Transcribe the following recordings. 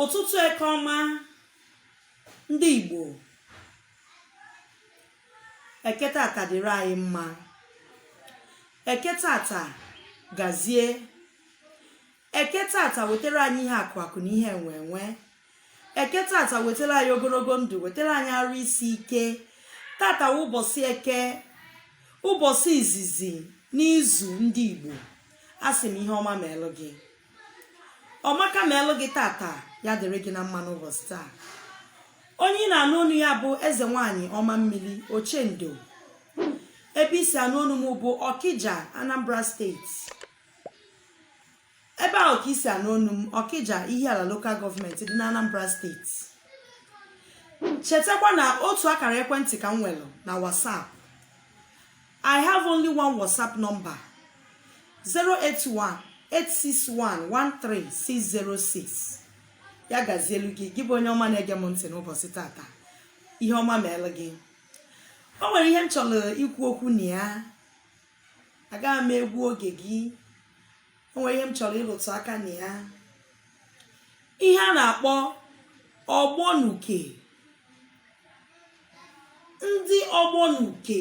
ụtụtụ eke ọma ndị igbo eke tata dịrị anyị mma eke tata gazie eke tata wetara anyị ihe akụ akụ na ihe enwe enwe eke tata wetara anyị ogologo ndụ wetara anyị arụ isi ike tata wụ ụbọchị eke ụbọchị izizi n'izu ndị igbo asị m ihe ọma meelụ gị ọmaka meelụ gị tata ya dịrị gị na mma n'ụbọchị taa onye ị na-anụ onu ya bụ eze nwanyị ọma mmiri ochendo ebe ị si anụ onu m bụ ọkija anambra steeti ebe ahụ ka ị si anụ onu m ọkija ihiala local government dị na anambra steeti chetakwa na otu akara ekwentị ka m nwere na WhatsApp I have only one WhatsApp number 081-861-13606 ya gazielu gị gị bụ onye ọma na-ege m ntị n'ụbọchị tata ihe ọma meelụ gị o nwere ihe m chọrọ ikwu okwu na ya agaghị m egbu oge gị o nwere ihe m chọrọ ịrụtụ aka na ya ihe a na-akpọ ọgbọ n'uke ndị ọgbọ n'uke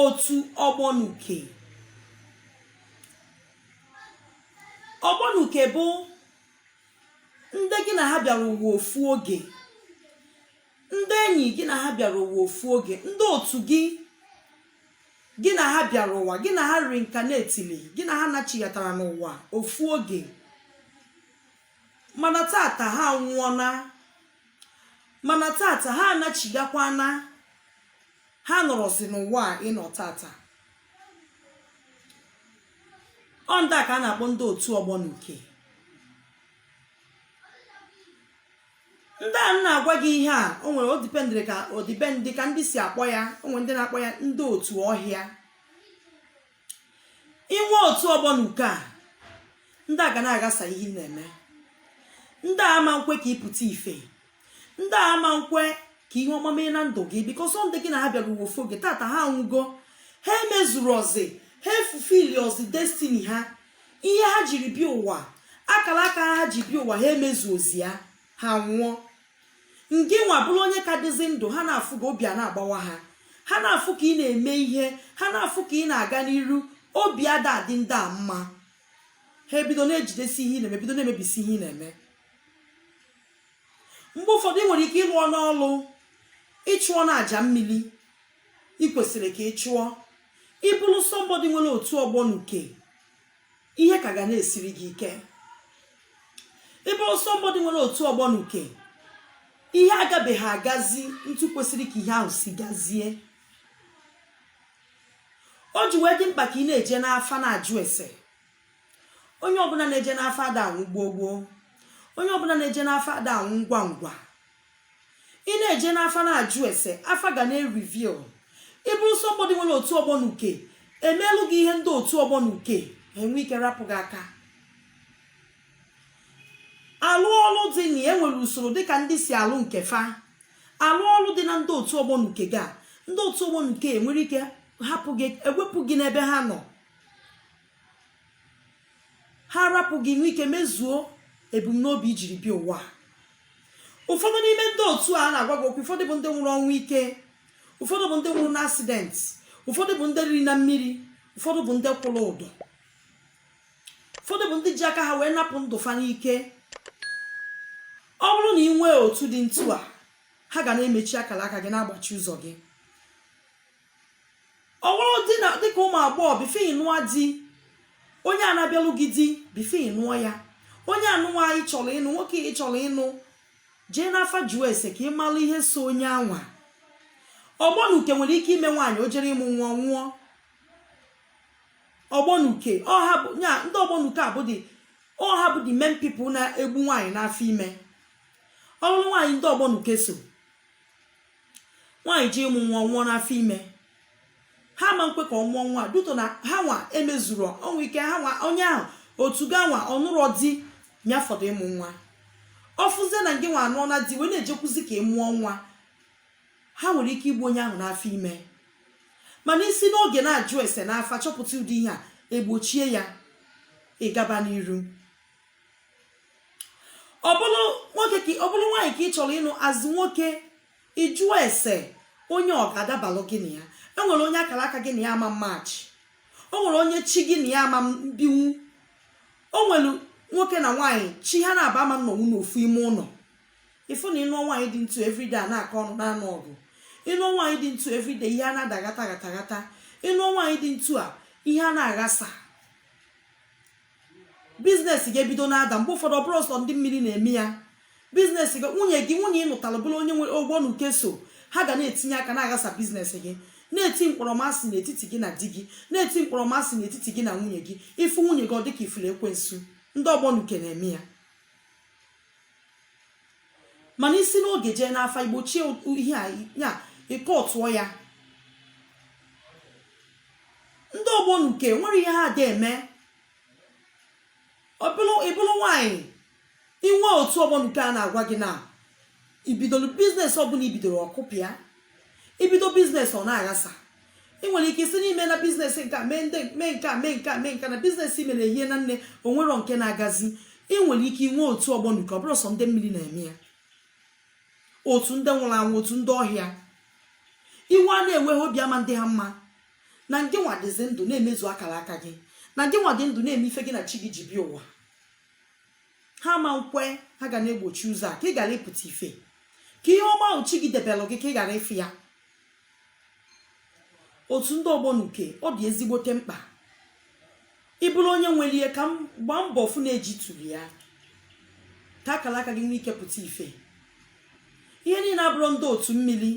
otu ọgbọ n'uke ọgbọ n'uke bụ ndị gị na ha bịara ụwa ofu oge ndị enyi gị na ha bịara ụwa ofu oge ndị otu gị gị na ha bịara ụwa gị na ha reincarnatili gị na ha nachighatara n'ụwa ofu oge mana tata ha nwụọna mana tata ha anachigakwana ha nọrọzi n'ụwa a ị nọ tata ọ ndị a ka a na-akpọ ndị otu ọgbọ n'uke ndị a na-agwa gị ihe a o nwere ọ dependịrị ka ọ dependị ka ndị si akpọ ya o nwere ndị na-akpọ ya ndị otu ọhịa ị nwee otu ọgbọ n'uke a ndị a ga na-aghasa ihe ị na-eme ndị a ama nkwe ka ị pụta ife ndị a ama nkwe ka ihe ọma mee na ndụ gị because ọ ndị gị na ha bịara ụwa ofu oge tata ha anwụgo ha emezurozi ha efulfillirozi destiny ha ihe ha jiri bịa ụwa akara aka ha ji bịa ụwa ha emezurozi ya ha nwụọ ngị nwa bụrụ onye ka dịzi ndụ ha na-afụ ka obi ana-agbawa ha ha na-afụ ka ị na-eme ihe ha na-afụ ka ị na-aga n'iru obi ada adị ndị a mma ha ebido na-ejidesi ihe ị na-eme bido na-emebisi ihe ị na-eme mgbe ụfọdụ ị nwere ike ị lụọna ọlụ ị chụọna aja mmiri ị kwesịrị ka ị chụọ ị bụrụ somebody nwere otu ọgbọ n'uke ihe ka ga na-esiri gị ike ị bụrụ somebody nwere otu ọgbọ n'uke ihe agabeghị agazi ntu kwesịrị ka ihe ahụ si gazie o ji wee dị mkpa ka ị na-eje n'afa na-ajụ ese onye ọbụla na-eje n'afa ada anwụ gboo gboo onye ọbụla na-eje n'afa ada anwụ ngwa ngwa ị na-eje n'afa na-ajụ ese afa ga na-ereveal ị bụrụ somebody nwere otu ọgbọ na uke e meelụ gị ihe ndị otu ọgbọ na uke enwee ike rapụ gị aka a lụọ ọlụ dị na ya e nwere usoro dịka ndị si alụ nke fa a lụọ ọlụ dị na ndị otu ọgbọ na uke gị a ndị otu ọgbọ na uke enwere ike hapụ gị ewepụ gị n'ebe ha nọ ha arapụ gị ị nwee ike mezuo ebumnobi i jiri bịa ụwa ụfọdụ n'ime ndị otu a na-agwa gị okwu ụfọdụ bụ ndị nwụrụ ọnwụ ike ụfọdụ bụ ndị nwụrụ n'accident ụfọdụ bụ ndị riri na mmiri ụfọdụ bụ ndị kwụrụ ụdọ ụfọdụ bụ ndị ji aka ha wee napụ ndụ fa n'ike ọ bụrụ na ị nwee otu dị ntu a ha ga na-emechi akara aka gị na-agbachi ụzọ gị ọ bụrụ dịka ụmụ agbọghọ before ị nụọ di onye a na-abịalụ gị di before ị nụọ ya onye ahụ nwaanyị ị chọrọ ịnụ nwoke ị chọrọ ịnụ jee n'afa jụọ ese ka ị malụ ihe so onye anwa ọgbọ na uke nwere ike ime nwaanyị o jere ịmụ nwa ọ nwụọ ọgbọnuke ọ ha bụ ya ndị ọgbọnuke a bụ the ọ ha bụ the main people na-egbu nwaanyị n'afọ ime ọ bụlụ nwaanyị ndị ọgbọnuke so nwaanyị jee ịmụ nwa nwụọ n'afọ ime ha ama nkwe ka ọ mụọ nwa due to na ha nwa emezuru o nwee ike ha nwa onye ahụ otu gị anwa ọ nụrọ di ya fọdụ ịmụ nwa ọ fụzie na gị nwa anụọna di wee na-ejekwuzi ka ị mụọ nwa ha nwere ike igbu onye ahụ n'afọ ime mana i si n'oge na-ajụ ese n'afa chọpụta ụdị ihe a egbochie ya ị gaba n'iru ọ bụrụ nwoke ka ọ bụrụ nwaanyị ka ị chọrọ ịnụ as nwoke ị jụọ ese onye ọ ga-adabalụ gị na ya e nwere onye akara aka gị na ya ama match o nwere onye chi gị na ya ama mbinwu o nwere nwoke na nwaanyị chi ha naabọ ama nnọnwụ n'ofu ime ụlọ ị fụ na ị nụọ nwaanyị dị ntu everyday a na-akọ ọnụ na-anụ ọgụ ị nụọ nwaanyị dị ntu everyday ihe a na-adaghata ghata ghata ị nụọ nwaanyị dị ntu a ihe a na-aghasa business gị ebido na-ada mgbe ụfọdụ ọ bụrọ sọ ndị mmiri na-eme ya business gị nwunye gị nwunye ị nụtara bụrụ onye nwere ọgbọ na uke so ha ga na-etinye aka na-aghasa business gị na-eti mkpọrọmasị n'etiti gị na di gị na-eti mkpọrọmasị n'etiti gị na nwunye gị ị fụ nwunye gị ọ dịka ị fụrụ ekwensu ndị ọgbọ na uke na-eme ya mana isi n'oge jee n'afa igbochie ihe a ya ịkọtụọ ya ndị ọgbọ n'uke nwere ihe ha dị eme ịbụrụ nwanyị inwe otu ọgbọ n'uke a na-agwa gị na ibido business ọbụla ibidoro ọ kụpịa ibido business ọ na-aghasa ị nwere ike isi n'ime na business nke a mee ndị mee nke a mee nke a mee nke na business mere ehie na nne o nwerọ nke na-agazi ị nwere ike inwe otu ọgbọ n'uke ọ bụrụ sọ ndị mmiri na-eme ya otu ndị nwụrụ anwụ otu ndị ọhịa iwe a na-ewe ha obi ama ndị ha mma na ngị nwa dịzi ndụ na-emezu akara aka gị na ngị nwa dị ndụ na-eme ife gị na chi gị ji bịa ụwa ha ma nkwe ha ga na-egbochi ụzọ a ka ị ghara ịpụta ife ka ihe ọma ahụ chi gị debelụ gị ka ị ghara ịfụ ya otu ndị ọgbọ n'uke ọ dị ezigbote mkpa ị bụrụ onye nwere ya ka ị gbaa mbọ fụ na ejituru ya ka akara aka gị nwee ike pụta ife ihe niile abụrọ ndị otu mmiri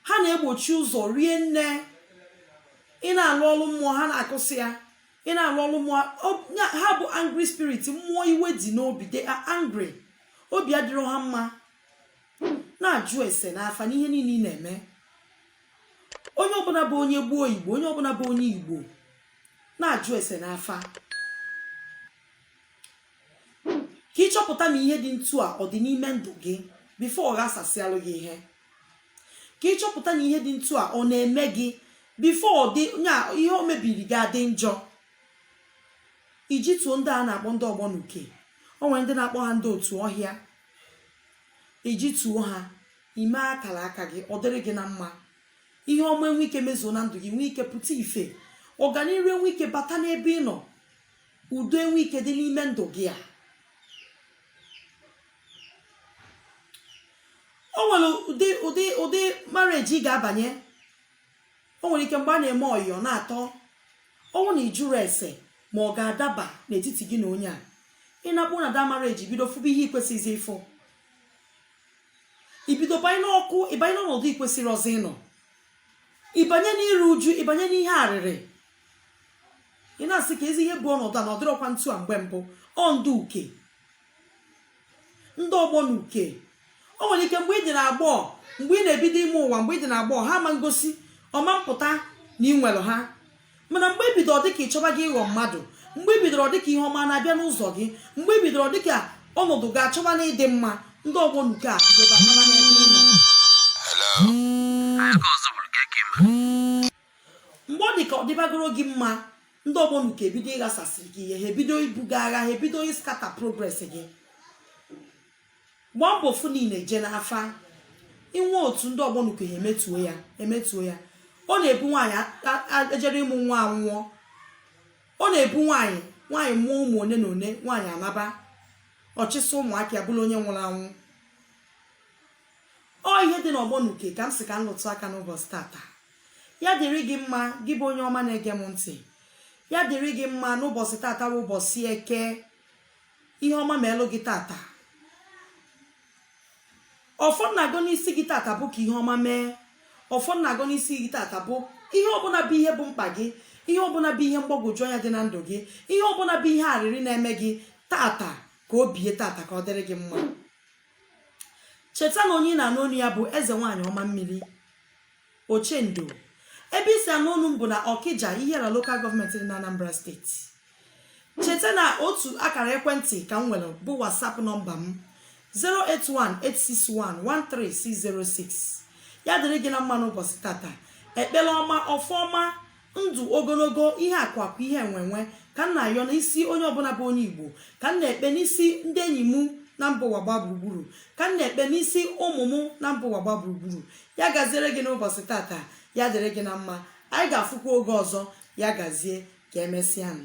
ha na-egbochi ụzọ rie nne ị na-alụ ọrụ mmụọ ha na-akụsị ya ị na-alụ ọrụ mmụọ ọ- ya- ha bụ angry spirit mmụọ iwe dị n'obi they are angry obi adịrọ ha mma na-ajụ ese n'afa n'ihe niile ị na-eme onye ọbụla bụ onye gboo igbo onye ọbụla bụ onye igbo na-ajụ ese n'afa ka ị chọpụta na ihe dị ntu a ọ dị n'ime ndụ gị before ọ ghasasịalụ gị ihe ka ị chọpụta na ihe dị ntu a ọ na-eme gị before ọ dị nya ihe o mebiri gị adị njọ ijituo ndị a na-akpọ ndị ọgbọ n'uke o nwere ndị na-akpọ ha ndị otu ọhịa ijituo ha ime akara aka gị ọ dịrị gị na mma ihe ọma enwe ike mezuo na ndụ gị nwee ike pụta ife ọganiru enwe ike bata n'ebe ị nọ udo enwe ike dị n'ime ndụ gị a o nwere ụdị ụdị ụdị marriage ị ga-abanye o nwere ike mgbe a na-eme ọyị ọ na-atọ ọnwụ na ịjụrọ ese ma ọ ga-adaba n'etiti gị na onye a ịnakpu na the marriage ibido fụba ihe ikwesịghịzi ịfụ ibido banye n'ọkụ ịbanye n'ọnọdụ ikwesịrọzị ịnọ ịbanye n'iru uju ịbanye n'ihe arịrị ị na-asị keezi ihe bụ ọnọdụ a na ọ dịrọkwa ntu a mgbe mbụ ọ ndị uke ndị ọgbọ n'uke o nwere ike mgbe ị dị na agbọọ mgbe ị na-ebido ime ụwa mgbe ị dị na agbọọ ha ma ngosi ọ ma mpụta na ị nwere ha mana mgbe ibido ọ dịka ịchọbago ịghọ mmadụ mgbe i bidoro dịka ihe ọma na-abịa n'ụzọ gị mgbe i bidoro dịka ọnọdụ gị achọbana ịdị mma ndị ọgbọ n'uke a bidoba naba n'ebe ị nọ mgbe ọ dịka ọ dịbagoro gị mma ndị ọgbọ n'uke ebido ịghasasịrị gị ihe ha ebido ibu gị agha ha ebido ịscatter progress gị gbaa mbọ fụ niile jee n'afa inwe otu ndị ọgbọ n'uke ha emetuo ya emetuo ya ọ na-abụ nwaanyị a- a- ejere ịmụ nwa anwụọ ọ na-abụ nwaanyị nwaanyị mụọ ụmụ one na one nwaanyị anaba ọchịsị ụmụaka ya bụrụ onye nwụrụ anwụ ọ ihe dị n'ọgbọ n'uke ka m sị ka m lụtụ aka n'ụbọchị tata ya dịrị gị mma gị bụ onye ọma na-ege m ntị ya dịrị gị mma n'ụbọchị tata bụ ụbọchị eke ihe ọma melu gị tata ọfọ m na-agọ n'isi gị tata bụ ka ihe ọma mee ọfọ m na-agọ n'isi gị tata bụ ihe ọbụla bụ ihe bụ mkpa gị ihe ọbụla bụ ihe mgbagwoju anya dị na ndụ gị ihe ọbụla bụ ihe arịrị na-eme gị tata ka o bie tata ya dịrị gị mma cheta na onye ị na-anụ onu ya bụ eze nwaanyị ọma mmiri ochendo ebe i si anụ onu m bụ na ọkija ihiala local government dị na anambra steeti cheta na otu akara ekwentị ka m nwere bụ whatsapp nọmba m 08186113606 ya dịrị gị na mma n'ụbọchị tata ekpere ọma ọfọ ọma ndụ ogologo ihe akụ akụ ihe enwenwe ka m na-ayọ n'isi onye ọbụla bụ onye igbo ka m na-ekpe n'isi ndị enyi m na mba ụwa gba gburugburu ka m na-ekpe n'isi ụmụ m na mba ụwa gba gburugburu ya gaziere gị n'ụbọchị tata ya dịrị gị na mma anyị ga-afụkwa oge ọzọ ya gazie ka emesịa nụ